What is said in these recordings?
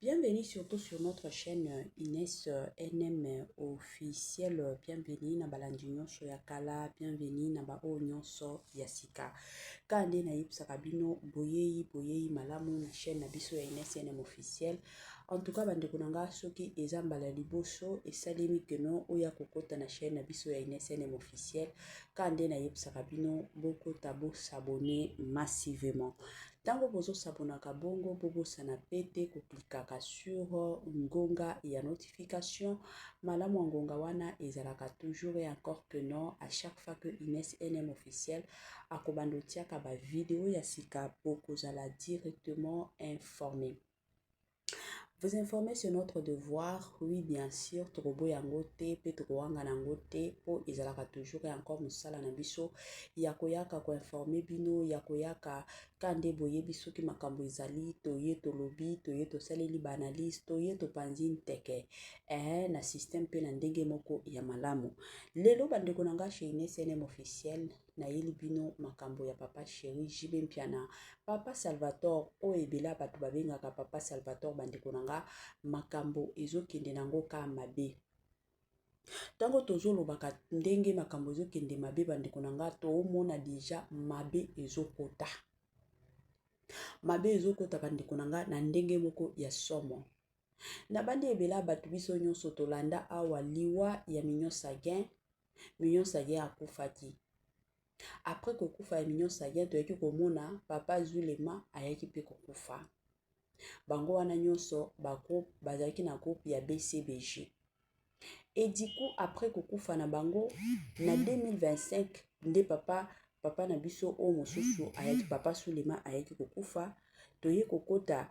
Bienvenue surtout sur notre chaîne Ines NM officiel bienvenue na balandi nyonso ya kala bienvenue na baoyo nyonso ya sika kaka nde nayebisaka bino boyei boyei malamu na chaîne na biso ya Ines NM officiel en tout cas bandeko na ngai soki eza mbala ya liboso esalemi keno oya kokota na chaîne na biso ya Ines NM officiel kaka nde nayebisaka bino bokota bosabone massivement Tango bozo s'abonnaka bongo bo bosana pe te ko clickaka sur ngonga ya notification, malamu ya ngonga wana ezalaka toujours et encore que non à chaque fois que Ines NM officiel akobanda otiaka ba video ya sika bokozala directement informe. Vous informer sur notre devoir, oui bien sûr, tokoboya yango te mpe tokowangana yango te mpo ezalaka toujours ya encore mosala na biso ya koyaka koinforme bino ya koyaka ka nde boyebi soki makambo ezali toye tolobi toye tosaleli baanalyse toye topanzi nteke ee na systeme mpe na ndenge moko ya malamu lelo bandeko na ngai chez inesnm officiel nayeli bino makambo ya papa sheri jb mpiana papa salvatore oyo ebela bato babengaka papa salvatore bandeko na nga makambo ezokende na yango ka mabe ntango tozolobaka ndenge makambo ezokende mabe bandeko na nga toomona deja mabe ezokota mabe ezokota bandeko na nga na ndenge moko ya somo nabandi ebela bato biso nyonso tolanda awa liwa ya mignon sagin Mignon Sadia akufaki. Après kokufa ya Mignon Sadia toyaki komona papa Zulema ayaki mpe kokufa. Bango wana nyonso ba groupe bazalaki na groupe ya BCBG. Et du coup après kokufa na bango na 2025 nde papa papa na biso oyo mosusu ayaki papa Sulema ayaki kokufa toye kokota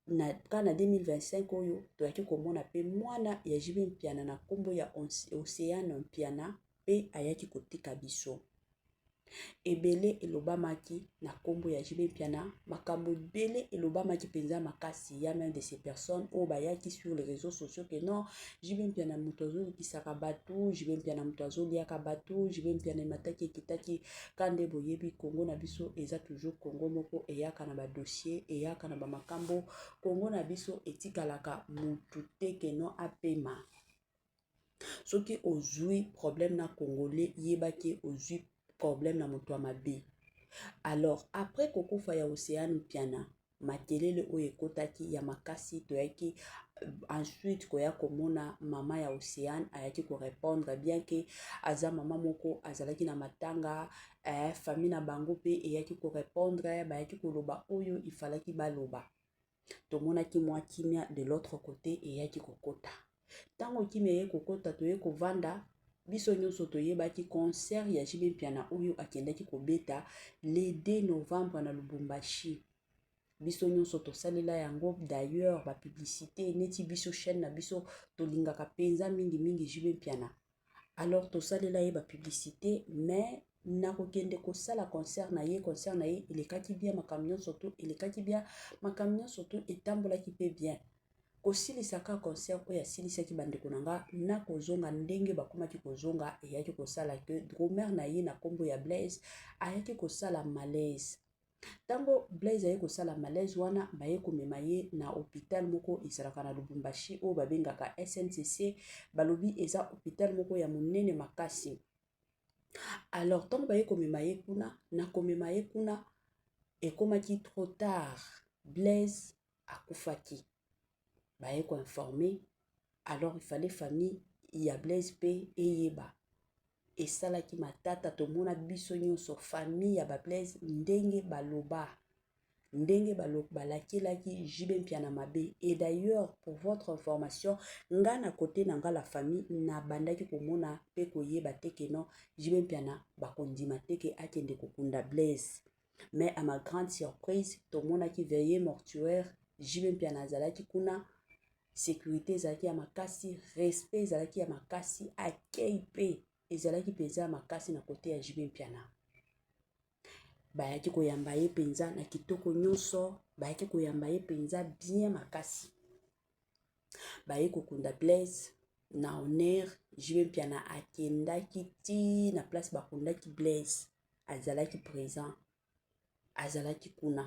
na kaka na 2025 oyo toyaki komona mpe mwana ya JB Mpiana na nkombo ya Oceano Mpiana mpe ayaki kotika biso. Ebele elobamaki na nkombo ya JB Mpiana, makambo ebele elobamaki mpenza makasi ya même de ces personnes oyo bayaki sur les réseaux sociaux que non JB Mpiana moto azoyokisaka bato, JB Mpiana moto azoliaka bato, JB Mpiana emataki ekitaki ka nde boyebi congo na biso eza toujours congo moko eyaka na badossier eyaka na bamakambo congo na biso etikalaka mutu te keno apema soki ozwi problème na congolais yeba ke ozwi problème na moto ya mabe alors après kokufa ya oceane mpiana makelele oyo ekotaki ya makasi toyaki euh, ensuite koya komona mama ya océane ayaki korépondre bien ke aza mama moko azalaki na matanga eh, famille na bango mpe eyaki korépondre bayaki koloba oyo ifalaki baloba tomonaki mwa kimia de l'autre côté eyaki kokota ntango kimya ye kokota toye kovanda biso nyonso toyebaki concert ya JB Mpiana oyo akendaki kobeta le 2 novembre na Lubumbashi biso nyonso tosalela yango d'ailleurs ba publicité neti biso chaîne na biso tolingaka mpenza mingi mingi JB Mpiana alors tosalela ye ba publicite mais na kokende kosala concert na ye concert na ye elekaki bien makambo nyonso to elekaki bien makambo nyonso to etambolaki mpe bien kosilisa ka concert oyo asilisaki bandeko na nga na kozonga ndenge bakomaki kozonga eyaki kosala ke dromer na ye na nkombo ya blaise ayaki kosala malaise Tango Blaise aye kosala malaise wana baye komema ye na hopital moko ezalaka na Lubumbashi oyo babengaka SNCC balobi eza hopital moko ya monene makasi alors tango baye komema ye kuna na komema ye kuna ekomaki trop tard Blaise akufaki baye koinforme alors il fallait famille ya blaise mpe eyeba esalaki matata tomona biso nyonso famille ya bablaise ndenge baloba ndenge balakelaki jibe mpiana mabe et d'ailleurs pour votre information nga na kote na nga la famille nabandaki komona mpe koyeba te ke non jibe mpiana bakondima te ke akende kokunda blaise mais à ma grande surprise tomonaki veille mortuaire jibe mpiana azalaki kuna sécurité ezalaki ya makasi respect ezalaki ya makasi accueil mpe ezalaki mpenza ya makasi na kote ya jibe mpiana bayaki koyamba ye mpenza na kitoko nyonso bayaki koyamba ye mpenza bien makasi baye kokunda blaise na honere jibe mpiana akendaki ti na place bakundaki blaise azalaki présent azalaki kuna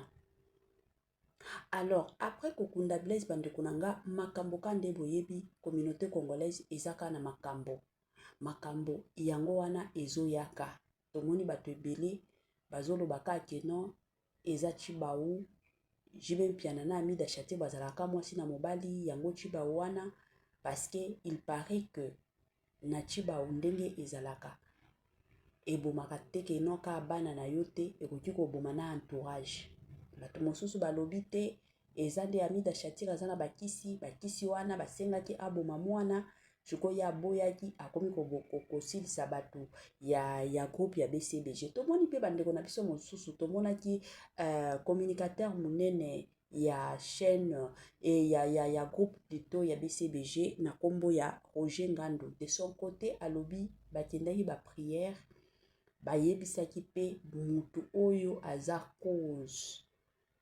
alors après kokunda blaise bandeko na nga makambo ka nde boyebi communauté congolaise eza kaka na makambo makambo yango wana ezoyaka tomoni bato ebele bazoloba kaka ke non eza tshibawu JB Mpiana na Amida Shatio bazalaka mwasi na mobali yango tshibawu wana parce que il paraît que na tshibawu ndenge ezalaka ebomaka te ke noka bana na yo te ekoki koboma na entourage bato mosusu balobi te eza nde amida shatira aza na bakisi bakisi wana basengaki aboma mwana sikoyo ye aboyaki akomi kosilisa bato ya, ya groupe ya bcbg tomoni mpe bandeko na biso mosusu tomonaki uh, communicateur monene ya chaîne e ya, ya, ya groupe plutôt ya bcbg na nkombo ya roger ngandu de son côté alobi bakendaki baprière bayebisaki mpe motu oyo aza cause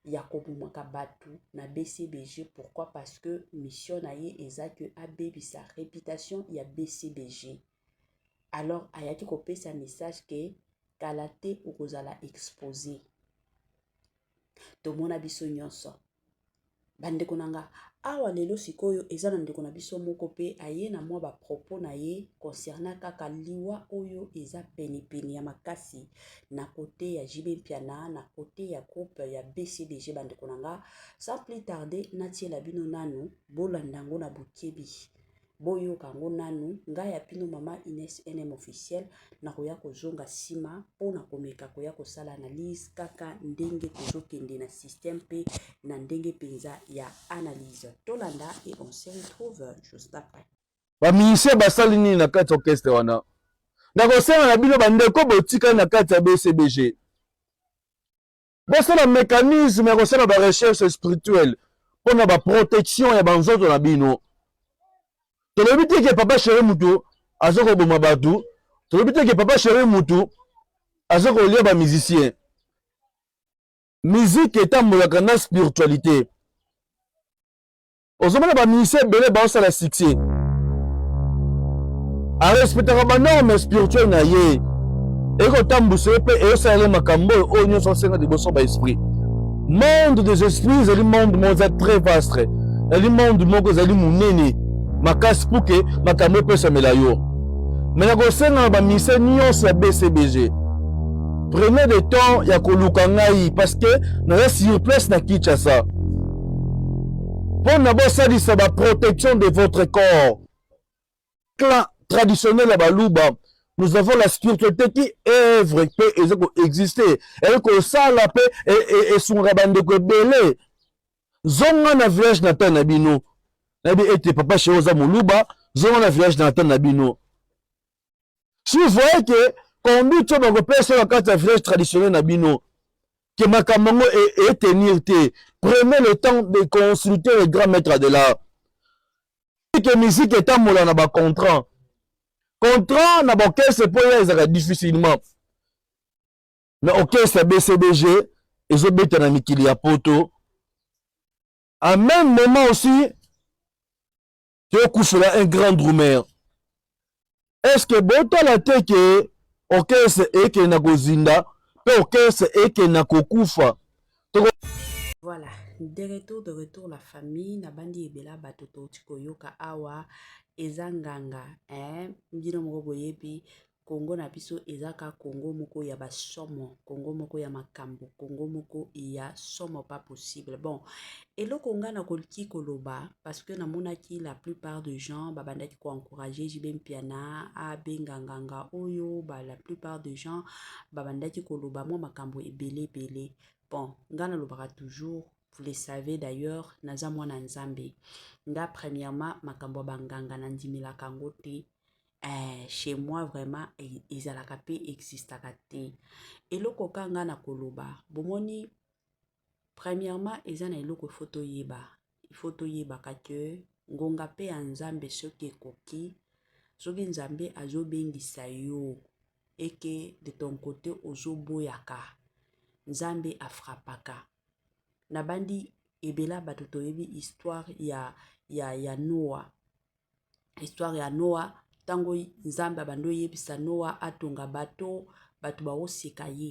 ya kobomaka bato na bcbg pourquoi parce que mission na ye eza que abebisa réputation ya bcbg alors ayaki kopesa message ke kala te okozala expose tomona biso nyonso bandeko na nga awa lelo sikoyo eza na ndeko na biso moko mpe aye na mwa bapropos na ye concernant kaka liwa oyo eza penepene ya makasi na cote ya JB Mpiana na cote ya groupe ya BCBG bandeko na nga sans plus tarder natiela bino nanu bolanda yango na bokebi boyoka yango nanu ngai ya bino mama Ines NM officiel nakoya kozonga nsima mpo na komeka koya kosala analyse kaka ndenge tozokende na système mpe na ndenge mpenza ya analyse tolanda et on se retrouve juste après ba musiciens basali nini na kati orchestre wana nakosenga na bino bandeko botikali na kati ya bcbg bosala mécanisme ya kosala ba recherche spirituelle mpo na ba protection ya banzoto na bino tolobi te ke papa chere mutu aza koboma bato tolobi te ke papa chere mutu aza kolia ba musicien miziki etambolaka na spiritualité ozomona ba musiciens ebele baosala succès arespectaka banorme spirituel na ye ekotambusa ye mpe eyosala ye makambo oyo oyo nyonso asenga liboso ba esprit monde des esprits ezali monde moko eza très vaste ezali monde moko ezali monene makasi mpo ke makambo epesamela yo me na kosenga na bamise nyonso ya bcbg prenez le temps ya koluka ngai parce que naza sur place na kinshasa mpo na bosalisa ba protection de votre corps clan traditionnel ya baluba nous avons la spiritualité qui œuvre mpe eza koexiste eye kosala mpe esungaka bandeko ebele zonga na village natal na bino nayebi ete papa shero oza moluba zonga na village natal na bino si vous voyez que conduite oyo bakopesa na kati ya village traditionnel na bino que makambo yango etenir e te prenez le temps de consulter le grand maître de l'art que musique etambola na bacontrant contrat na baorchestre mpo ya ezalaka difficilement na orchestre bcbg ezobeta na mikili ya poto en même moment aussi tokufela un grand drumeur est ce que botala te ke orchestre ekende na kozinda mpe orchestre ekende na kokufa voilà de retour de retour la famille nabandi ebela bato touti koyoka awa eza nganga eh, bino moko boyebi Congo na biso eza ka Congo moko ya ba somo, Congo moko ya makambo, Congo moko ya somo pas possible. Bon, eloko nga na koliki koloba parce que namonaki la plupart de gens babandaki ko encourager JB Mpiana abenga nganga oyo, ba la plupart de gens babandaki koloba mwa makambo ebele ebele. Bon, nga nalobaka toujours vous le savez d'ailleurs naza mwana nzambe nga premièrement makambo ya banganga nandimelaka yango te eh, chez moi vraiment e, ezalaka mpe existaka te eloko ka ngai na koloba bomoni premièrement eza na eloko ifo toyeba ifo toyebaka ke ngonga mpe ya nzambe soki ekoki soki nzambe azobengisa yo eke de ton kote ozoboyaka nzambe afrapaka nabandi ebela bato toyebi histoire ya, ya, ya noa histoire ya noa ntango nzambe abandi oyebisa noa atonga bato bato baoseka ye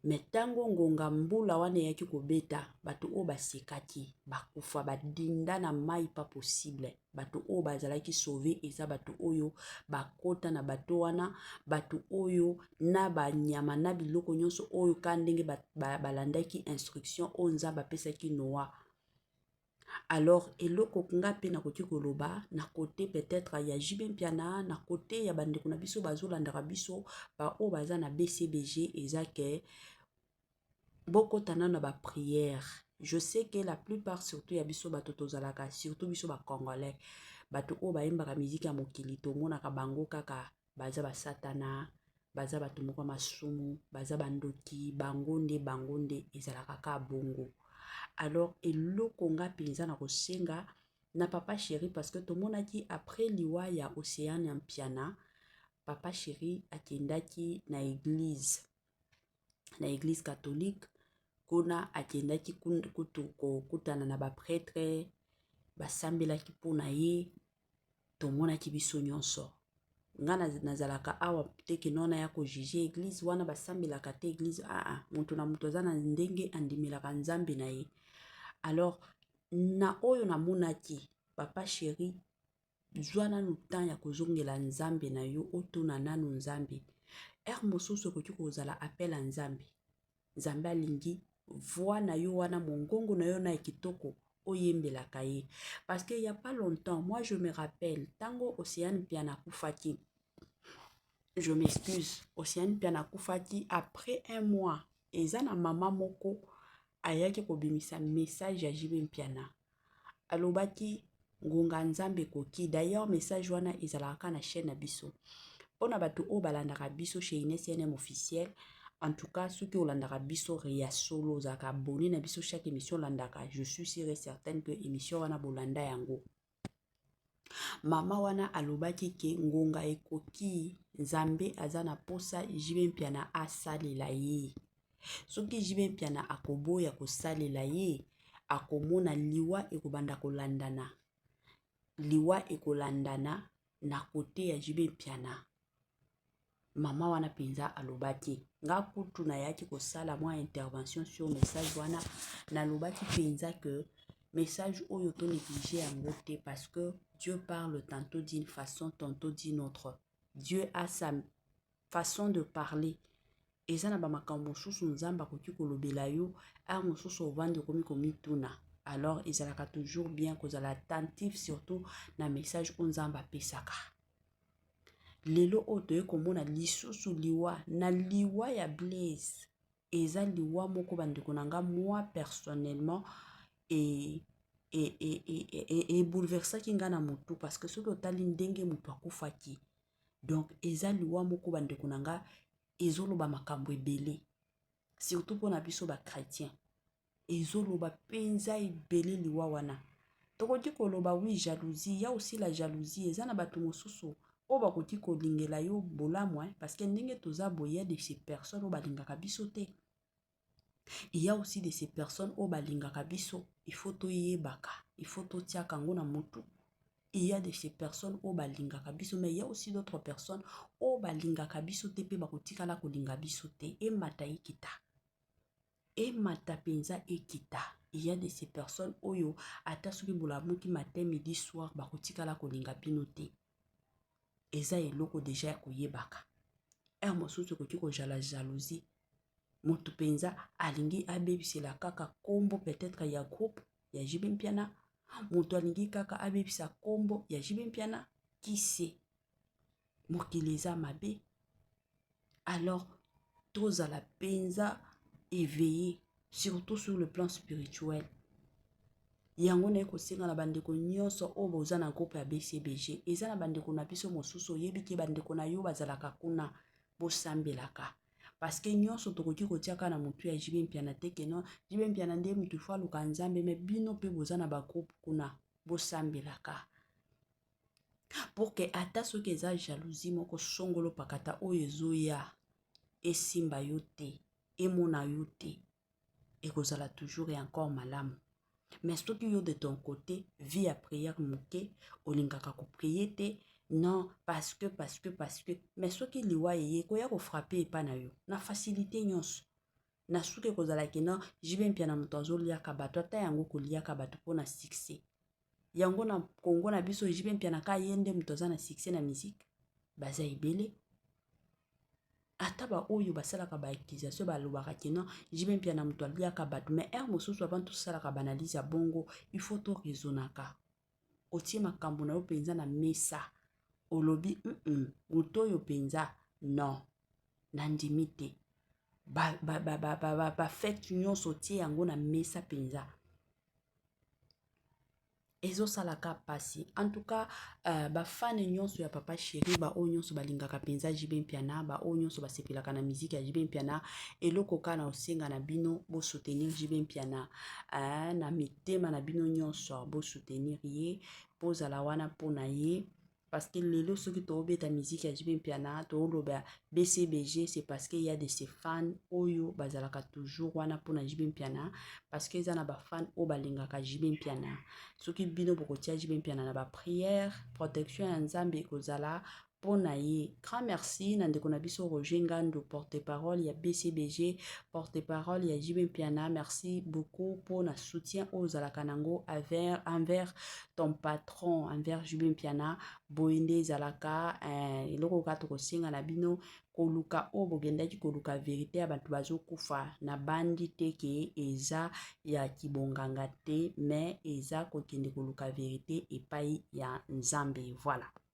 me ntango ngonga mbula wana eyaki kobeta bato oyo basekaki bakufa badinda na mai pa possible bato oyo bazalaki sauve eza bato oyo bakota na bato wana bato oyo na banyama na biloko nyonso oyo ka ndenge balandaki ba, ba instruction oyo nzambe apesaki noa alors eloko nga mpe nakoki koloba na kote peut-être ya JB Mpiana na kote ya bandeko na biso bazolandaka biso baoyo baza na BCBG eza ke bokota nano na baprière je sais que la plupart surtout ya biso bato tozalaka surtout biso bacongolais bato oyo bayembaka miziki ya mokili tomonaka bango kaka baza basatana baza bato moko ya masumu baza bandoki bango nde bango nde ezalaka ka bongo alors eloko nga mpenza na kosenga na papa chéri parce que tomonaki après liwa ya océane ya mpiana papa chéri akendaki na eglize na eglize catholique kuna akendaki kutu kokutana na bapretre basambelaki mpo na ye tomonaki biso nyonso nga nazalaka awa te kino wana ya kojuge eglize wana basambelaka te eglize aa moto na moto aza na ndenge andimelaka nzambe na ye alors na oyo namonaki papa sheri zwa nanu temps ya kozongela nzambe na yo otuna nanu nzambe ere mosusu ekoki kozala apel ya nzambe Nzambe alingi voix na yo wana mongongo na yo na kitoko oyembelaka ye parce que il y a pas longtemps moi je me rappelle tango Océane Piana kufaki je m'excuse Océane Piana kufaki après un mois eza na mama moko ayaki kobimisa message ya JB Mpiana alobaki ngonga ya nzambe ekoki d'ailleurs message wana ezalaka kaka na chaîne na biso mpo na bato oyo balandaka biso chez ines cnm officiel en tout cas soki olandaka biso ya solo ozalaka abonné na biso chaque émission olandaka je suis sure et certaine que émission wana bolanda yango Mama wana alobaki ke ngonga ekoki Nzambe aza na posa JB Mpiana asalela ye. Soki JB Mpiana akoboya kosalela ye, akomona liwa ekobanda kolandana. Liwa ekolandana na kote ya JB Mpiana. Mama wana mpenza aloba te. Nga kutu nayaki kosala mwa intervention sur message wana nalobaki mpenza que message oyo to néglige yango te parce que Dieu parle tantôt d'une façon tantôt d'une autre. Dieu a sa façon de parler. eza na bamakambo mosusu nzambe akoki kolobela yo a mosusu ovandi okomi komituna alors ezalaka toujours bien kozala attentif surtout na message oyo nzambe apesaka lelo oyo toye komona lisusu liwa na liwa ya blaise eza liwa moko bandeko na nga moi personnellement e, e, e, e, e, e bouleversaki nga na motu parce que soki otali ndenge motu akufaki donc eza liwa moko bandeko na nga ezoloba makambo ebele surtout mpona biso bachrétien ezoloba mpenza ebele liwa wana tokoki koloba wi jalousie ya osila jalousie eza na bato mosusu oyo bakoki kolingela yo bolamu hein, parce que ndenge toza boye ya de ces personnes oyo balingaka biso te il y a aussi de ces personnes oyo balingaka biso il faut toyebaka il faut totiaka yango na motu il y a de ces personnes oyo balingaka biso mais il y a aussi d'autres personnes oyo balingaka biso te mpe bakotikala kolinga biso te emata ekita emata mpenza ekita ya de ces personnes oyo ata soki bolamuki matin midi soir bakotikala kolinga bino te eza eloko deja ya koyebaka ere mosusu ekoki kozala jalousie motu mpenza alingi abebisela kaka nkombo peut-être ya groupe ya jibe mpiana moto alingi kaka abebisa nkombo ya jibe mpiana kise mokili eza mabe alors tozala mpenza eveille surtout sur le plan spirituel yango naye kosenga na bandeko nyonso oyo boza na groupe ya bcbg eza na bandeko na biso mosusu oyebi te bandeko na yo bazalaka kuna bosambelaka parce que nyonso tokoki kotia kaka na motu ya jibe mpiana te ke non jibe mpiana nde motu fo aluka nzambe me bino mpe boza na bagroupe kuna bosambelaka pour que ata soki eza jalousie moko songolo pakata oyo ezoya esimba yo te emona yo te ekozala toujours et encore malamu mais soki yo de ton côté vie ya prière moke olingaka koprie te non parce que parce que parce que mais soki liwa eye ekoya kofrape epa na yo na facilité nyonso na suka ekozala kino jibe mpia na moto azoliaka bato ata yango koliaka bato mpo na succès yango na congo na biso jipe mpiana ka ye nde moto aza na succès na musique baza ebele ata baoyo basalaka baaccusation balobaka kino jibe mpia na moto aliaka bato mai heure mosusu avant tosalaka baanalyse ya bongo il faut toraisonaka otie makambo na yo mpenza na mesa olobi mm moto oyo mpenza non nandimi te bafete ba, ba, ba, ba, nyonso otie yango na mesa mpenza ezosalaka mpasi en tout cas uh, bafane nyonso ya papa sheri baoyo nyonso balingaka mpenza jb mpiana baoyo nyonso basepelaka na miziki ya jb mpiana eloko kaka na osenga na bino bosoutenir jb mpiana uh, na mitema na bino nyonso bosoutenir ye bozala wana mpo na ye Parce que lelo soki tobeta musique ya JB Mpiana toloba BCBG c'est parce qu'il y a de ces fans oyo bazalaka toujours wana mpona JB Mpiana parce que eza na ba fans oyo balingaka JB Mpiana soki bino bokotia JB Mpiana na ba prière protection ya Nzambe ekozala mpo na ye grand merci na ndeko na biso roger ngandu porte parole ya bcbg porte parole ya jb mpiana merci beaucoup mpo na soutien oyo ozalaka nango envers ton patron envers JB Mpiana boye nde ezalaka eh, eloko kaka tokosenga na bino koluka oyo bogendaki koluka verite ya bato bazokufa na bandi te ke eza ya kibonganga te mais eza kokende koluka verite epai ya nzambe voilà